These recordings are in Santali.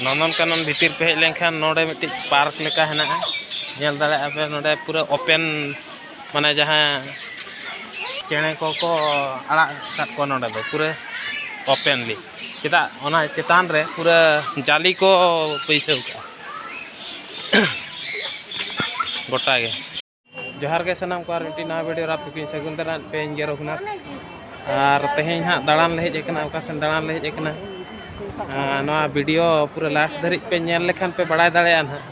ᱱᱚᱱᱚᱱᱠᱟᱱᱚᱱ ᱵᱷᱤᱛᱤᱨ ᱯᱮ ᱦᱮᱡ ᱞᱮᱱᱠᱷᱟᱱ ᱱᱚᱰᱮ ᱢᱤᱫᱴᱤᱡ ᱯᱟᱨᱠ ᱞᱮᱠᱟ ᱦᱮᱱᱟᱜᱼᱟ ᱧᱮᱞ ᱫᱟᱲᱮᱭᱟᱜᱼᱟ ᱯᱮ ᱱᱚᱰᱮ ᱯᱩᱨᱟᱹ ᱳᱯᱮᱱ ᱢᱟᱱᱮ ᱡᱟᱦᱟᱸ ᱪᱮᱬᱮ ᱠᱚᱠᱚ ᱟᱲᱟᱜ ᱟᱠᱟᱫ ᱠᱚᱣᱟ ᱱᱚᱰᱮ ᱫᱚ ᱯᱩᱨᱟᱹ ᱳᱯᱮᱱᱞᱤ ᱪᱮᱫᱟᱜ ᱚᱱᱟ ᱪᱮᱛᱟᱱ ᱨᱮ ᱯᱩᱨᱟᱹ ᱡᱟᱞᱤ ᱠᱚ ᱵᱟᱹᱭᱥᱟᱹᱣ ᱠᱟᱜᱼᱟ ᱜᱚᱴᱟᱜᱮ ᱡᱚᱦᱟᱨ ᱜᱮ ᱥᱟᱱᱟᱢ ᱠᱚ ᱟᱨ ᱢᱤᱫᱴᱤᱡ ᱱᱟᱣᱟ ᱵᱷᱤᱰᱤᱭᱳ ᱨᱟᱯ ᱠᱚᱠᱤᱧ ᱥᱟᱹᱜᱩᱱ ᱫᱟᱨᱟᱢ ᱯᱮ ᱤᱧ ᱜᱮ ᱨᱚᱜᱷᱩᱱᱟᱛᱷ ᱟᱨ ᱛᱮᱦᱮᱧ ᱦᱟᱸᱜ ᱫᱟᱬᱟᱱ ᱞᱮ ᱦᱮᱡ ᱟᱠᱟᱱᱟ ᱚᱠᱟ ᱥᱮᱱ ᱫᱟᱬᱟᱱ ᱞᱮ ᱦᱮᱡ ᱟᱠᱟᱱᱟ ᱱᱚᱣᱟ ᱵᱷᱤᱰᱤᱭᱳ ᱯᱩᱨᱟᱹ ᱞᱟᱥᱴ ᱫᱷᱟᱹᱨᱤᱡ ᱯᱮ ᱧᱮᱞ ᱞᱮᱠᱷᱟᱱ ᱯᱮ ᱵᱟᱲᱟᱭ ᱫᱟᱲᱮᱭᱟᱜᱼᱟ ᱦᱟᱸᱜ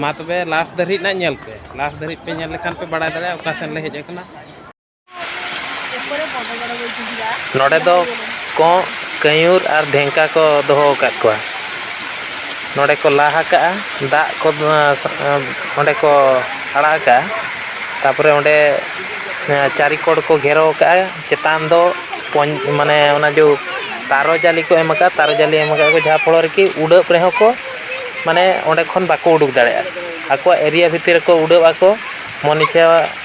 ᱢᱟ ᱛᱚᱵᱮ ᱞᱟᱥᱴ ᱫᱷᱟᱹᱨᱤᱡ ᱱᱟᱜ ᱧᱮᱞ ᱯᱮ ᱞᱟᱥᱴ ᱫᱷᱟᱹᱨᱤᱡ ᱯᱮ ᱧᱮᱞ ᱞᱮᱠᱷᱟᱱ ᱯᱮ ᱵᱟᱲᱟᱭ ᱫᱟᱲᱮᱭᱟᱜᱼᱟ ᱚᱠᱟ ᱥᱮᱱ ᱞᱮ ᱦᱮᱡ ᱟᱠᱟᱱᱟ ᱱᱚᱰᱮ ᱫᱚ ᱠᱚᱸᱜ ᱠᱟᱹᱭᱩᱨ ᱟᱨ ᱰᱷᱮᱝᱠᱟ ᱠᱚ ᱫᱚᱦᱚ ᱟᱠᱟᱫ ᱠᱚᱣᱟ ᱱᱚᱰᱮ ᱠᱚ ᱞᱟ ᱟᱠᱟᱫᱼᱟ ᱫᱟᱜ ᱠᱚ ᱚᱸᱰᱮ ᱠᱚ ᱟᱲᱟᱜ ᱟᱠᱟᱫᱼᱟ ᱛᱟᱨᱯᱚᱨᱮ ᱚᱸᱰᱮ ᱪᱟᱹᱨᱤ ᱠᱚᱬ ᱠᱚ ᱜᱷᱮᱨᱟᱣ ᱟᱠᱟᱫᱼᱟ ᱪᱮᱛᱟᱱ ᱫᱚ ᱢᱟᱱᱮ ᱚᱱᱟ ᱡᱮ ᱛᱟᱨᱚ ᱡᱟᱹᱞᱤ ᱠᱚ ᱮᱢ ᱟᱠᱟᱫᱼᱟ ᱛᱟᱨᱚ ᱡᱟᱹᱞᱤ ᱮᱢ ᱟᱠᱟᱫᱼᱟ ᱠᱚ ᱡᱟᱦᱟᱸ ᱯᱷᱚᱞᱚ ᱨᱮᱠᱤ ᱩᱰᱟᱹᱜ ᱨᱮᱦᱚᱸ ᱠᱚ ᱢᱟᱱᱮ ᱚᱸᱰᱮ ᱠᱷᱚᱱ ᱵᱟᱠᱚ ᱩᱰᱩᱠ ᱫᱟᱲᱮᱭᱟᱜᱼᱟ ᱟᱠᱚᱣᱟᱜ ᱮᱨᱤᱭᱟ ᱵᱷᱤᱛᱤᱨ ᱨᱮᱠᱚ ᱩᱰᱟᱹᱜ ᱟᱠᱚ ᱢᱚᱱᱤᱠᱟ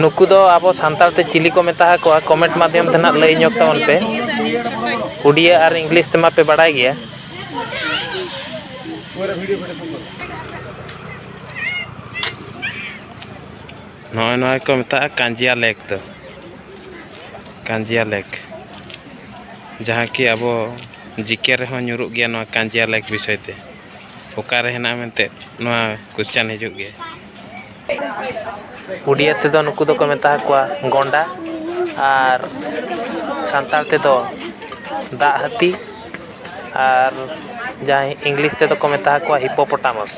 ᱱᱩᱠᱩ ᱫᱚ ᱟᱵᱚ ᱥᱟᱱᱛᱟᱲ ᱛᱮ ᱪᱤᱞᱤ ᱠᱚ ᱢᱮᱛᱟ ᱠᱚᱣᱟ ᱠᱚᱢᱮᱱᱴ ᱢᱟᱫᱽᱫᱷᱚᱢ ᱛᱮ ᱱᱟᱜ ᱞᱟᱹᱭ ᱧᱚᱜ ᱛᱟᱵᱚᱱ ᱯᱮ ᱩᱰᱤᱭᱟ ᱟᱨ ᱤᱝᱞᱤᱥ ᱛᱮᱢᱟ ᱯᱮ ᱵᱟᱲᱟᱭ ᱜᱮᱭᱟ ᱱᱚᱜᱼᱚᱭ ᱱᱚᱣᱟ ᱠᱚ ᱢᱮᱛᱟᱜᱼᱟ ᱠᱟᱸᱡᱤᱭᱟ ᱞᱮᱠ ᱫᱚ ᱠᱟᱸᱡᱤᱭᱟ ᱞᱮᱠ ᱡᱟᱦᱟᱸ ᱠᱤ ᱟᱵᱚ ᱡᱤᱠᱮ ᱨᱮᱦᱚᱸ ᱧᱩᱨᱩᱜ ᱜᱮᱭᱟ ᱱᱚᱣᱟ ᱠᱟᱸᱡᱤᱭᱟ ᱞᱮᱠ ᱵᱤᱥᱚᱭ ᱛᱮ ᱚᱠᱟᱨᱮ ᱦᱮᱱᱟᱜᱼᱟ ᱢᱮᱱᱛᱮ ᱱᱚᱣᱟ ᱠᱚᱥᱪᱟᱱ ᱦᱤᱡᱩᱜ ᱜᱮᱭᱟ ᱩᱰᱤᱭᱟ ᱛᱮᱫᱚ ᱱᱩᱠᱩ ᱫᱚᱠᱚ ᱢᱮᱛᱟ ᱠᱚᱣᱟ ᱜᱚᱱᱰᱟ ᱟᱨ ᱥᱟᱱᱛᱟᱲ ᱛᱮᱫᱚ ᱫᱟᱜ ᱦᱟᱹᱛᱤ ᱟᱨ ᱡᱟᱦᱟᱸᱭ ᱤᱝᱞᱤᱥ ᱛᱮᱫᱚ ᱠᱚ ᱢᱮᱛᱟ ᱠᱚᱣᱟ ᱦᱤᱯᱳᱯᱚᱴᱟᱢᱚᱥ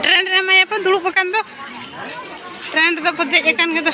ᱴᱨᱮᱱ ᱨᱮ ᱮᱢᱟᱭᱟᱠᱚ ᱫᱩᱲᱩᱵ ᱟᱠᱟᱱ ᱫᱚ ᱴᱨᱮᱱ ᱨᱮᱫᱚ ᱠᱚ ᱫᱮᱡ ᱟᱠᱟᱱ ᱜᱮᱫᱚ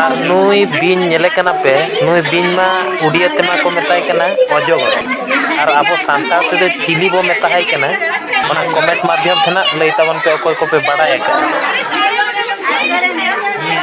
ᱟᱨ ᱱᱩᱭ ᱵᱤᱧ ᱧᱮᱞᱮ ᱠᱟᱱᱟ ᱯᱮ ᱱᱩᱭ ᱵᱤᱧ ᱢᱟ ᱩᱰᱤᱭᱟᱹ ᱛᱮᱢᱟ ᱠᱚ ᱢᱮᱛᱟᱭ ᱠᱟᱱᱟ ᱚᱡᱚᱜᱚᱨ ᱟᱨ ᱟᱵᱚ ᱥᱟᱱᱛᱟᱲ ᱛᱮᱫᱚ ᱪᱤᱞᱤ ᱵᱚᱱ ᱢᱮᱛᱟᱭ ᱠᱟᱱᱟ ᱚᱱᱟ ᱠᱚᱢᱮᱱᱴ ᱢᱟᱫᱽᱫᱷᱚᱢ ᱛᱮ ᱱᱟᱦᱟᱜ ᱞᱟᱹᱭ ᱛᱟᱵᱚᱱ ᱯᱮ ᱚᱠᱚᱭ ᱠᱚᱯᱮ ᱵᱟᱲᱟᱭ ᱟᱠᱟᱫᱼᱟ ᱦᱮᱸ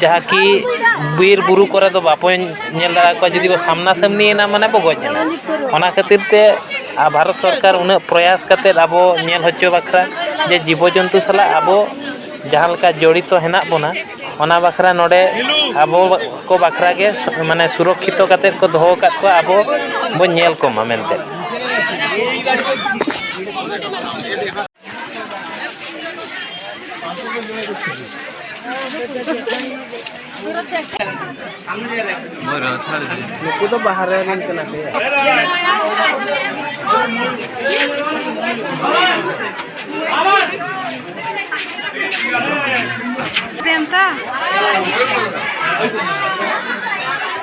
ᱡᱟᱦᱟᱸ ᱠᱤ ᱵᱤᱨ ᱵᱩᱨᱩ ᱠᱚᱨᱮ ᱫᱚ ᱵᱟᱠᱚ ᱧᱮᱞ ᱫᱟᱲᱮ ᱟᱠᱚᱣᱟ ᱡᱩᱫᱤ ᱠᱚ ᱥᱟᱢᱱᱟ ᱥᱟᱹᱢᱱᱤᱭᱮᱱᱟ ᱢᱟᱱᱮ ᱵᱚ ᱜᱚᱡ ᱮᱱᱟ ᱚᱱᱟ ᱠᱷᱟᱹᱛᱤᱨ ᱛᱮ ᱟᱨ ᱵᱷᱟᱨᱚᱛ ᱥᱚᱨᱠᱟᱨ ᱩᱱᱟᱹᱜ ᱯᱨᱚᱭᱟᱥ ᱠᱟᱛᱮᱫ ᱟᱵᱚ ᱧᱮᱞ ᱦᱚᱪᱚ ᱵᱟᱠᱷᱨᱟ ᱡᱮ ᱡᱤᱵᱚ ᱡᱚᱱᱛᱩ ᱥᱟᱞᱟᱜ ᱟᱵᱚ ᱡᱟᱦᱟᱸ ᱞᱮᱠᱟ ᱡᱚᱲᱤᱛᱚ ᱦᱮᱱᱟᱜ ᱵᱚᱱᱟ ᱚᱱᱟ ᱵᱟᱠᱷᱨᱟ ᱱᱚᱰᱮ ᱟᱵᱚ ᱠᱚ ᱵᱟᱠᱷᱨᱟ ᱜᱮ ᱢᱟᱱᱮ ᱥᱩᱨᱚᱠᱠᱷᱤᱛᱚ ᱠᱟᱛᱮᱫ ᱠᱚ ᱫᱚᱦᱚ ᱟᱠᱟᱫ ᱠᱚᱣᱟ ᱟᱵᱚ ᱵᱚᱱ ᱧᱮᱞ ᱠᱚᱢᱟ ᱢᱮᱱᱛᱮ ᱱᱩᱠᱩ ᱫᱚ ᱵᱟᱦᱟ ᱨᱮ ᱨᱮᱱ ᱠᱟᱱᱟ ᱠᱚ ᱯᱮᱱᱛᱟ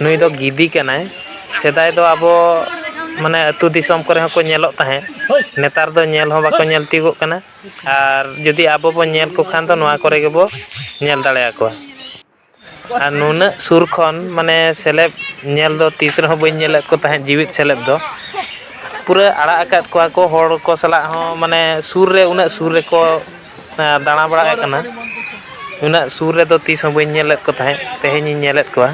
ᱱᱩᱭ ᱫᱚ ᱜᱤᱫᱤ ᱠᱟᱱᱟᱭ ᱥᱮᱫᱟᱭ ᱫᱚ ᱟᱵᱚ ᱢᱟᱱᱮ ᱟᱹᱛᱩ ᱫᱤᱥᱚᱢ ᱠᱚᱨᱮ ᱦᱚᱸᱠᱚ ᱧᱮᱞᱚᱜ ᱛᱟᱦᱮᱸᱫ ᱱᱮᱛᱟᱨ ᱫᱚ ᱧᱮᱞ ᱦᱚᱸ ᱵᱟᱠᱚ ᱧᱮᱞ ᱛᱤᱭᱳᱜᱚᱜ ᱠᱟᱱᱟ ᱟᱨ ᱡᱩᱫᱤ ᱟᱵᱚ ᱵᱚᱱ ᱧᱮᱞ ᱠᱚ ᱠᱷᱟᱱ ᱫᱚ ᱱᱚᱣᱟ ᱠᱚᱨᱮ ᱜᱮᱵᱚ ᱧᱮᱞ ᱫᱟᱲᱮ ᱟᱠᱚᱣᱟ ᱟᱨ ᱱᱩᱱᱟᱹᱜ ᱥᱩᱨ ᱠᱷᱚᱱ ᱢᱟᱱᱮ ᱥᱮᱞᱮᱫ ᱧᱮᱞ ᱫᱚ ᱛᱤᱥ ᱨᱮᱦᱚᱸ ᱵᱟᱹᱧ ᱧᱮᱞᱮᱫ ᱠᱚ ᱛᱟᱦᱮᱸᱫ ᱡᱮᱣᱮᱫ ᱥᱮᱞᱮᱫ ᱫᱚ ᱯᱩᱨᱟᱹ ᱟᱲᱟᱜ ᱟᱠᱟᱫ ᱠᱚᱣᱟ ᱠᱚ ᱦᱚᱲ ᱠᱚ ᱥᱟᱞᱟᱜ ᱦᱚᱸ ᱢᱟᱱᱮ ᱥᱩᱨ ᱨᱮ ᱩᱱᱟᱹᱜ ᱥᱩᱨ ᱨᱮᱠᱚ ᱫᱟᱬᱟ ᱵᱟᱲᱟᱭᱮᱫ ᱠᱟᱱᱟ ᱩᱱᱟᱹᱜ ᱥᱩᱨ ᱨᱮᱫᱚ ᱛᱤᱥ ᱦᱚᱸ ᱵᱟᱹᱧ ᱧᱮᱞᱮᱫ ᱠᱚ ᱛᱟᱦᱮᱸᱫ ᱛᱮᱦᱮᱧᱤᱧ ᱧᱮᱞᱮᱫ ᱠᱚᱣᱟ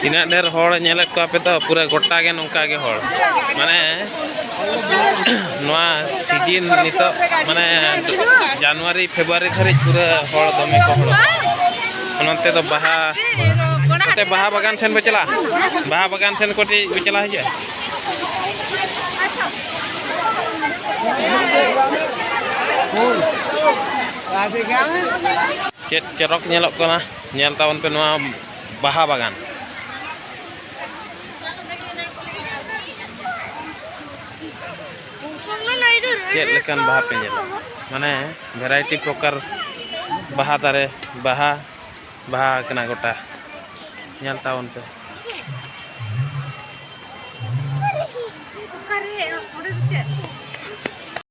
ᱛᱤᱱᱟᱹᱜ ᱰᱷᱮᱨ ᱦᱚᱲ ᱧᱮᱞᱮᱫ ᱠᱚᱣᱟ ᱯᱮ ᱛᱚ ᱯᱩᱨᱟᱹ ᱜᱚᱴᱟ ᱜᱮ ᱱᱚᱝᱠᱟ ᱜᱮ ᱦᱚᱲ ᱢᱟᱱᱮ ᱱᱚᱣᱟ ᱥᱤᱡᱤᱱ ᱱᱤᱛᱚᱜ ᱢᱟᱱᱮ ᱡᱟᱱᱩᱣᱟᱨᱤ ᱯᱷᱮᱵᱽᱨᱩᱣᱟᱨᱤ ᱫᱷᱟᱹᱨᱤᱡ ᱯᱩᱨᱟᱹ ᱦᱚᱲ ᱫᱚᱢᱮ ᱠᱚ ᱦᱚᱲᱚᱜᱼᱟ ᱚᱱᱟᱛᱮ ᱫᱚ ᱵᱟᱦᱟ ᱱᱚᱛᱮ ᱵᱟᱦᱟ ᱵᱟᱜᱟᱱ ᱥᱮᱱ ᱵᱚ ᱪᱟᱞᱟᱜᱼᱟ ᱵᱟᱦᱟ ᱵᱟᱜᱟᱱ ᱥᱮᱱ ᱠᱟᱹᱴᱤᱡ ᱵᱚ ᱪᱟᱞᱟᱣ ᱦᱤᱡᱩᱜᱼᱟ ᱪᱮᱫ ᱪᱚᱨᱚᱠ ᱧᱮᱞᱚᱜ ᱠᱟᱱᱟ ᱧᱮᱞ ᱛᱟᱵᱚᱱ ᱯᱮ ᱱᱚᱣᱟ ᱵᱟᱦᱟ ᱵᱟᱜᱟᱱ ᱪᱮᱫ ᱞᱮᱠᱟᱱ ᱵᱟᱦᱟ ᱯᱮ ᱧᱮᱞᱟ ᱢᱟᱱᱮ ᱵᱷᱮᱨᱟᱭᱴᱤ ᱯᱨᱚᱠᱟᱨ ᱵᱟᱦᱟ ᱫᱟᱨᱮ ᱵᱟᱦᱟ ᱵᱟᱦᱟ ᱠᱟᱱᱟ ᱜᱚᱴᱟ ᱧᱮᱞ ᱛᱟᱵᱚᱱ ᱯᱮ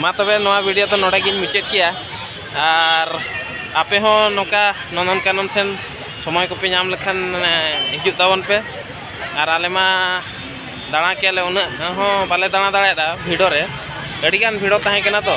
ᱢᱟ ᱛᱚᱵᱮ ᱱᱚᱣᱟ ᱵᱷᱤᱰᱤᱭᱳ ᱫᱚ ᱱᱚᱰᱮ ᱜᱤᱧ ᱢᱩᱪᱟᱹᱫ ᱠᱮᱜᱼᱟ ᱟᱨ ᱟᱯᱮ ᱦᱚᱸ ᱱᱚᱝᱠᱟ ᱱᱚᱱᱫᱚᱱ ᱠᱟᱱᱚᱱ ᱥᱮᱱ ᱥᱚᱢᱚᱭ ᱠᱚᱯᱮ ᱧᱟᱢ ᱞᱮᱠᱷᱟᱱ ᱦᱤᱡᱩᱜ ᱛᱟᱵᱚᱱ ᱯᱮ ᱟᱨ ᱟᱞᱮ ᱢᱟ ᱫᱟᱬᱟ ᱠᱮᱜᱼᱟ ᱞᱮ ᱩᱱᱟᱹᱜ ᱦᱚᱸ ᱵᱟᱞᱮ ᱫᱟᱬᱟ ᱫᱟᱲᱮᱭᱟᱫᱟ ᱵᱷᱤᱲᱚ ᱨᱮ ᱟᱹᱰᱤᱜᱟᱱ ᱵᱷᱤᱲᱚ ᱛᱟᱦᱮᱸ ᱠᱟᱱᱟ ᱛᱚ